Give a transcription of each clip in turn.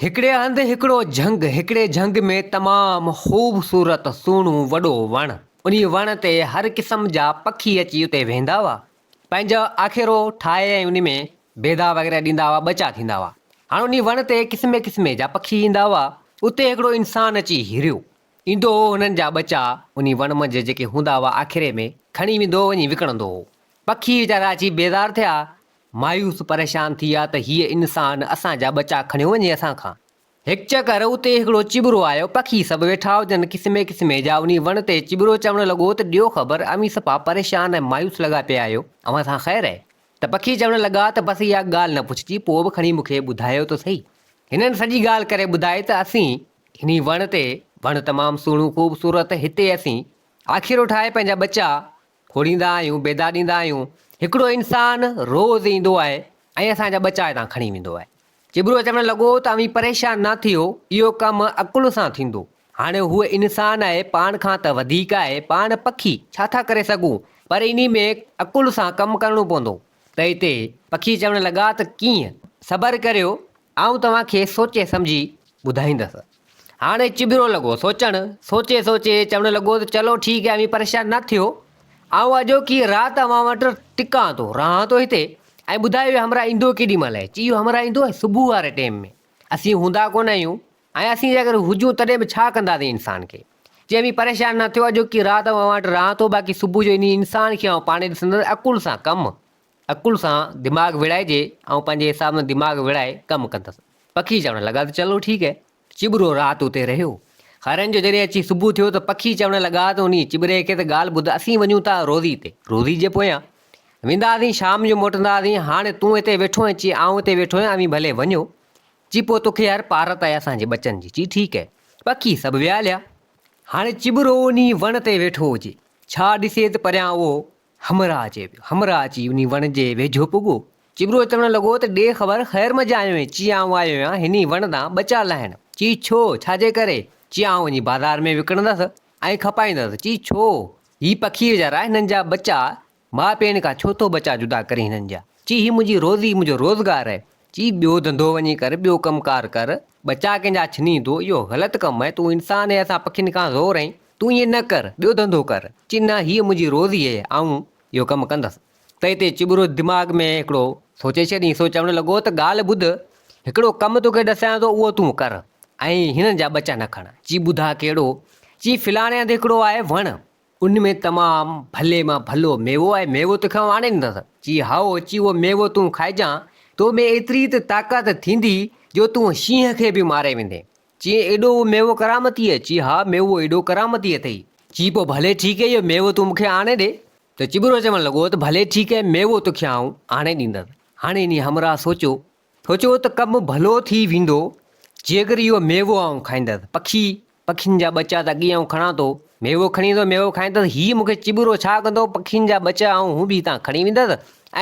هڪڙي هنڌ هڪڙو جهنگ، هڪڙي جهنگ ۾ تمام خوبصورت سهڻو وڏو وڻ، انهي وڻ تي هر قسم جا پکي اچي اتي ويهندا هئا، پنهنجا آکيرو ٺاهي ۽ انهي ۾ بيضا وغيره ڏيندا هئا، ٻچا ٿيندا هئا. هاڻ انهي وڻ تي قسمي قسمي جا پکي ايندا هئا، اتي هڪڙو انسان اچي هيريو، ايندو هو هنن جا ٻچا انهي وڻ منجهه جيڪي هوندا هئا آکيري ۾ کڻي ويندو هو وڃي وڪڻندو هو، پکي ويچارا اچي بيزار ٿيا مايوس پريشان ٿي ويا ته هيء انسان اسان جا ٻچا کڻيو وڃي اسان کان. هڪ چڪر اتي هڪڙو چٻرو آيو، پکي سڀ ويٺا هجن قسمي قسمي جا انهي وڻ تي چٻرو چوڻ لڳو ته ڏيو خبر اوهين صفا پريشان ۽ مايوس لڳا پيا آهيو اوهان سان خير اهي؟ ته پکي چوڻ لڳا ته بس اها ڳالهه نه پڇجي پوء به کڻي مون کي ٻڌايو ته سهي. هنن سڄي ڳالهه ڪري ٻڌائي ته اسين انهي وڻ تي، وڻ تمام سهڻو خوبصورت، هتي اسين آکيرو ٺاهي پنهنجا ٻچا کوڙيندا آهيون بيدا ڏيندا آهيون هڪڙو انسان روز ايندو آهي ۽ اسان جا ٻچا هتان کڻي ويندو آهي چٻرو چوڻ لڳو ته اوهين پريشان نه ٿيو اهو ڪم عقل سان ٿيندو هاڻي هو انسان آهي پاڻ کان ته وڌيڪ آهي پاڻ پکي ڇا ٿا ڪري سگهون پر انهي ۾ عقل سان ڪم ڪرڻو پوندو ته هتي پکي چوڻ لڳا ته ڪيئن صبر ڪريو آئون توهان کي سوچي سمجهي ٻڌائيندس. هاڻي چٻرو لڳو سوچڻ، سوچي سوچي چوڻ لڳو ته چلو ٺيڪ آهي اوهين پريشان نه ٿيو، آئون اڄوڪي رات اوهان وٽ ٽڪان ٿو، رهان ٿو هتي ۽ ٻڌايو اهو همراهه ايندو ڪيڏي مهل آهي؟ چي اهو همراهه ايندو صبح واري ٽيم ۾، اسين هوندا ڪونه آهيون ۽ اسين جي اگر هجون تڏهن به ڇا ڪنداسين انسان کي؟ چي اوهين پريشان نه ٿيو اڄوڪي رات اوهان وٽ رهان ٿو باقي صبح جو انهي انسان کي آئون پاڻهي ڏسندس عقل سان ڪم عقل سان دماغ ويڙهائجي، آئون پنهنجي حساب سان دماغ ويڙهائي ڪم ڪندس. پکي چوڻ لڳا ته چلو ٺيڪ هي. چٻرو رات اتي رهيو. هرن جو جڏهن اچي صبح ٿيو ته پکي چوڻ لڳا ته انهي چٻري کي ته ڳالهه ٻڌ اسين وڃون ٿا روزي تي. روزي جي پويان ويندا هئاسين شام جو موٽندا هئاسين هاڻي تون هتي ويٺو آهين چي آئون هتي ويٺو آهيان اوهين ڀلي وڃو چي پوء توکي هر پارت آهي اسان جي ٻچن جي چي ٺيڪ هي. پکي سڀ ويا هليا. هاڻي چٻرو انهي وڻ تي ويٺو هجي. ڇا ڏسي ته پريان اهو همراهه چي پيو. همراهه اچي انهي وڻ جي ويجهو پڳو. چٻرو چوڻ لڳو ته ڏي خبر خير مجه آيو آهين. چي آئون آيو آهيان هني وڻ تان ٻچا لاهڻ. چي ڇو؟ ڇا جي ڪري؟ چي آئون وڃي بازار ۾ وڪڻندس ۽ کپائيندس. چي ڇو؟ هي پکي ويچارا هنن جا ٻچا ماء پيڻ کان ڇو ٿو ٻچا جدا ڪرين هنن جا. چي هي منهنجي روزي منهنجو روزگار آهي. چي ٻيو ڌنڌو وڃي ڪر ٻيو ڪم ڪار ڪر ٻچا ڪنهنجا ڇني تو اهو غلط ڪم اهي تون انسان اهي اسان پکين کان زور اهي تون ائين نه ڪر ٻيو ڌنڌو ڪر چي نه هيء منهنجي روزي اهي آئون اهو ڪم ڪندس تئي تي چٻرو دماغ ۾ هڪڙو سوچي ڇڏينس سو چوڻ لڳو ته ڳالهه ٻڌ هڪڙو ڪم توکي ڏسيان ٿو اهو تون ڪر ۽ هنن جا ٻچا نه کڻ چي ٻڌاء ڪهڙو چي فلاڻي هنڌ هڪڙو آهي وڻ ان ۾ تمام ڀلي مان ڀلو ميوو آهي، ميوو تو کيان آڻي ڏيندس. چي، هائو، اچي اهو ميوو تون کائجان، تو ۾ ايتري ته طاقت ٿيندي، جو تون شينهن کي به ماري ويندين. چي، ايڏو اهو ميوو ڪرامتي آهي؟ چي، ها، ميوو ايڏو ڪرامتي اٿئي. چي، پوء ڀلي ٺيڪ اهي ميوو تون مون کي آڻي ڏي. ته چٻرو چوڻ لڳو ته ڀلي ٺيڪ اهي ميوو تو کيان آئون آڻي ڏيندس. هاڻي انهيء همراهه سوچيو هو چيو ته ڪم ڀلو ٿي ويندو جيڪر اهو ميوو آئون کائيندس. پکي، پکين جا ٻچا ته اڳي آئون کڻان ٿو. ميوو کڻي ايندو، ميوو کائيندس. هي مون کي چٻرو ڇا ڪندو؟ پکين جا ٻچا آئون هو به هتان کڻي ويندس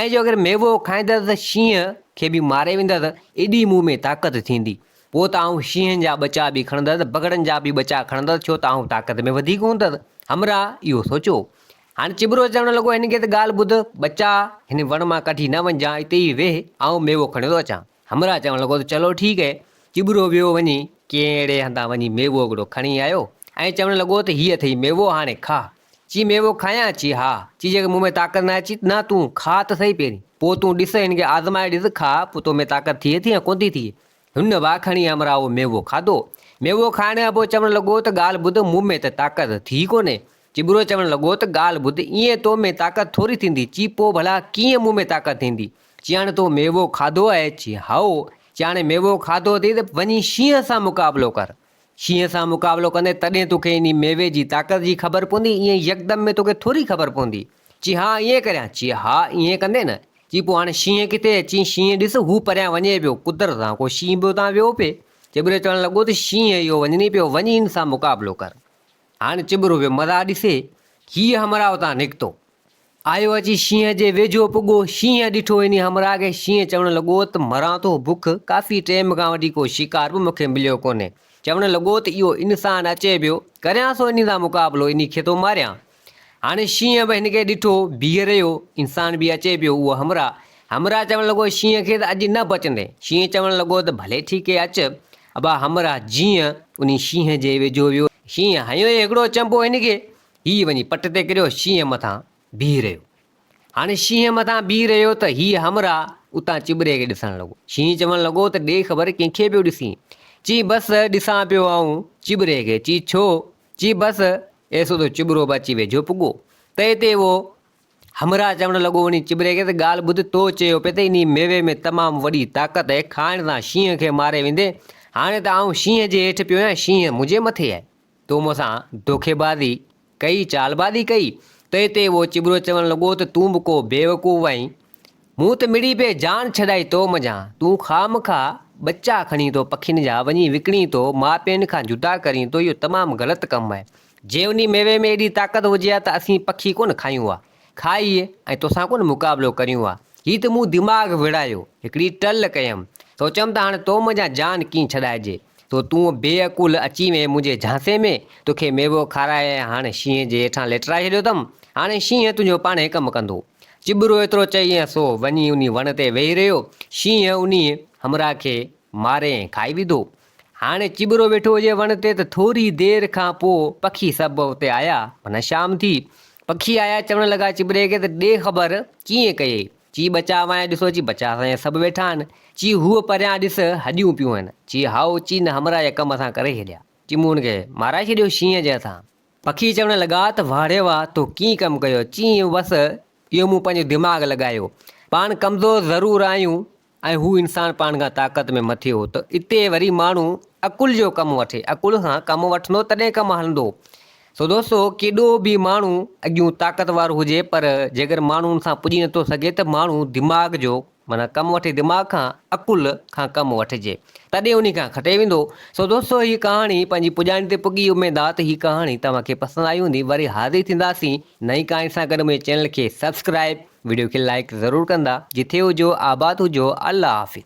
۽ جيڪر ميوو کائيندس ته شينهن کي به ماري ويندس. ايڏي مون ۾ طاقت ٿيندي. پوء ته آئون شينهن جا ٻچا به کڻندس، بگهڙن جا به ٻچا کڻندس ڇو ته آئون طاقت ۾ وڌيڪ هوندس. همراهه اهو سوچيو. هاڻ چٻرو چوڻ لڳو، هن کي ته ڳالهه ٻڌ، ٻچا! هن وڻ مان ڪڍي نه وڃجان، اتي ئي ويهه، آئون ميوو کڻي ٿو اچان. همراهه چوڻ لڳو ته چلو ٺيڪ هي. چٻرو ويو وڃي ڪنهن اهڙي هنڌان وڃي ميوو هڪڙو کڻي آيو ۽ چوڻ لڳو ته هي اٿئي ميوو، هاڻي کاء. چي ميوو کايان؟ چي ها. چي جيڪر مون ۾ طاقت ناهي. چي نه تون کاء ته سهي پهرين. پوء تون ڏس، هن کي آزمائي ڏس، کاء، پوء تو ۾ طاقت ٿئي ٿي يا ڪونه ٿي ٿئي. هن واء کڻي امراء ميوو کاڌو. ميوو کائڻ ابو چوڻ لڳو ته ڳالهه ٻڌ مون ۾ ته طاقت ٿي ئي ڪونهي. چٻرو چوڻ لڳو ته ڳالهه ٻڌ ايئن تو ۾ طاقت ٿوري ٿيندي چي پوء ڀلا ڪيئن مون ۾ طاقت ٿيندي. چياڻ تو ميوو کاڌو اهي؟ چي هائو. چياڻ ميوو کاڌو اٿئي ته وڃي شينهن سان مقابلو ڪر. شينهن سان مقابلو ڪندين تڏهن توکي انهي ميوي جي طاقت جي خبر پوندي ايئن يڪدم ۾ توکي ٿوري خبر پوندي. چي ها ائين ڪريان، چي ها ائين ڪندين نه، چي پوء هاڻي شينهن ڪٿي اچ، چي شينهن ڏس هو پريان وڃي پيو، قدرت سان ڪو شينهن به اتان ويو پئي، چٻرو چوڻ لڳو ته شينهن اهو وڃني پيو، وڃ هن سان مقابلو ڪر، هاڻي چٻرو ويو مزا ڏسي، هيء همراهه اتان نڪتو، آيو اچي شينهن جي ويجهو پڳو، شينهن ڏٺو انهي همراهه کي، شينهن چوڻ لڳو ته مران ٿو بک، ڪافي ٽيم کان وٺي ڪو شڪار به مون کي مليو ڪونهي، چوڻ لڳو ته اهو انسان اچي پيو، ڪريان ٿو انهي سان مقابلو، انهي کي ٿو ماريان، هاڻي شينهن به هن کي ڏٺو بيهي رهيو. انسان به اچي پيو اهو همراهه. همراهه چوڻ لڳو شينهن کي ته اڄ نه بچندين. شينهن چوڻ لڳو ته ڀلي ٺيڪ هي اچ. ابا همراهه جيئن انهي شينهن جي ويجهو ويو. شينهن هنيو هي هڪڙو چنبو هن کي. هي وڃي پٽ تي ڪريو شينهن مٿان بيهي رهيو. هاڻي شينهن مٿان بيهي رهيو ته هي همراهه اتان چٻري کي ڏسڻ لڳو. شينهن چوڻ لڳو ته ڏي خبر ڪنهن کي پيو ڏسين. چي بس ڏسان پيو آئون چٻري کي. چي ڇو؟ چي بس ايس اڌو چٻرو به اچي ويجهو پڳو. تئي تي اهو همراهه چوڻ لڳو وڃي چٻري کي ته ڳالهه ٻڌ تو چيو پئي ته انهي ميوي ۾ تمام وڏي طاقت اهي کائڻ سان شينهن کي ماري ويندي هاڻي ته آئون شينهن جي هيٺ پيو آهيان شينهن منهنجي مٿي آهي تو مون سان دوکي بازي ڪئي چالبازي ڪئي تئي تي اهو چٻرو چوڻ لڳو ته تون به ڪو بيوقوف آهين مون ته مڙئي پئي جان ڇڏائي تو منجهان، تون خامخا ٻچا کڻين ٿو پکين جا، وڃي وڪڻين ٿو، ماء پين کان جدا ڪرين ٿو، اهو تمام غلط ڪم آهي، جي انهي ميوي ۾ ايڏي طاقت هجي ها ته اسين پکي ڪونه کايون ها، کائي ۽ توسان ڪونه مقابلو ڪريون ها، هي ته مون دماغ وڙهايو، هڪڙي ٽل ڪيم، سوچيم ته هاڻ تو منجهان جان ڪيئن ڇڏائجي، سو تون بي عقول اچي وئين منهنجي جهانسي ۾، توکي ميوو کارائي ۽ هاڻ شينهن جي هيٺان ليٽرائي ڇڏيو اٿم، هاڻي شينهن تنهنجو پاڻهي ڪم ڪندو. چٻرو ايترو چئي ۽ سو وڃي انهي وڻ تي ويهي رهيو. شينهن انهي همراهه کي ماري ۽ کائي وڌو. هاڻي چٻرو ويٺو هجي وڻ تي ته ٿوري دير کان پوء پکي سڀ اتي آيا. معنيٰ شام ٿي. پکي آيا چوڻ لڳا چٻري کي ته ڏي خبر ڪيئن ڪيئي؟ چي ٻچا وانء ڏسو اچي ٻچا سان سڀ ويٺا آهن. چي هوء پريان ڏس هڏيون پيون هن. چي هائو چي نه همراهه جا ڪم اسان ڪري ڇڏيا. چي مون هن کي مارائي ڇڏيو شينهن جي هٿان. پکي چوڻ لڳا ته واھ ري واھ تو ڪيئن ڪم ڪيو؟ چيائين بس اهو مون پنهنجو دماغ لڳايو. پاڻ ڪمزور ضرور آهيون ۽ هو انسان پاڻ کان طاقت ۾ مٿي هو ته اتي وري ماڻهو عقل جو ڪم وٺي عقل سان ڪم وٺندو تڏهن ڪم هلندو سو دوستو ڪيڏو به ماڻهو اڳيون طاقتور هجي پر جيڪر ماڻهو ان سان پڄي نٿو سگهي ته ماڻهو دماغ جو معنيٰ ڪم وٺي دماغ کان، عقل، کان ڪم وٺجي تڏهن انهي کان کٽي ويندو. سو دوستو هي ڪهاڻي پنهنجي پڄاڻي تي پڳي اميد آ ته هي ڪهاڻي توهان کي پسند آئي هوندي وري حاضر ٿينداسين نئين ڪهاڻي سان گڏ منهنجي چينل کي سبسڪرائب وڊيو کي لائيڪ ضرور ڪندا جٿي هجو آباد هجو الله حافظ.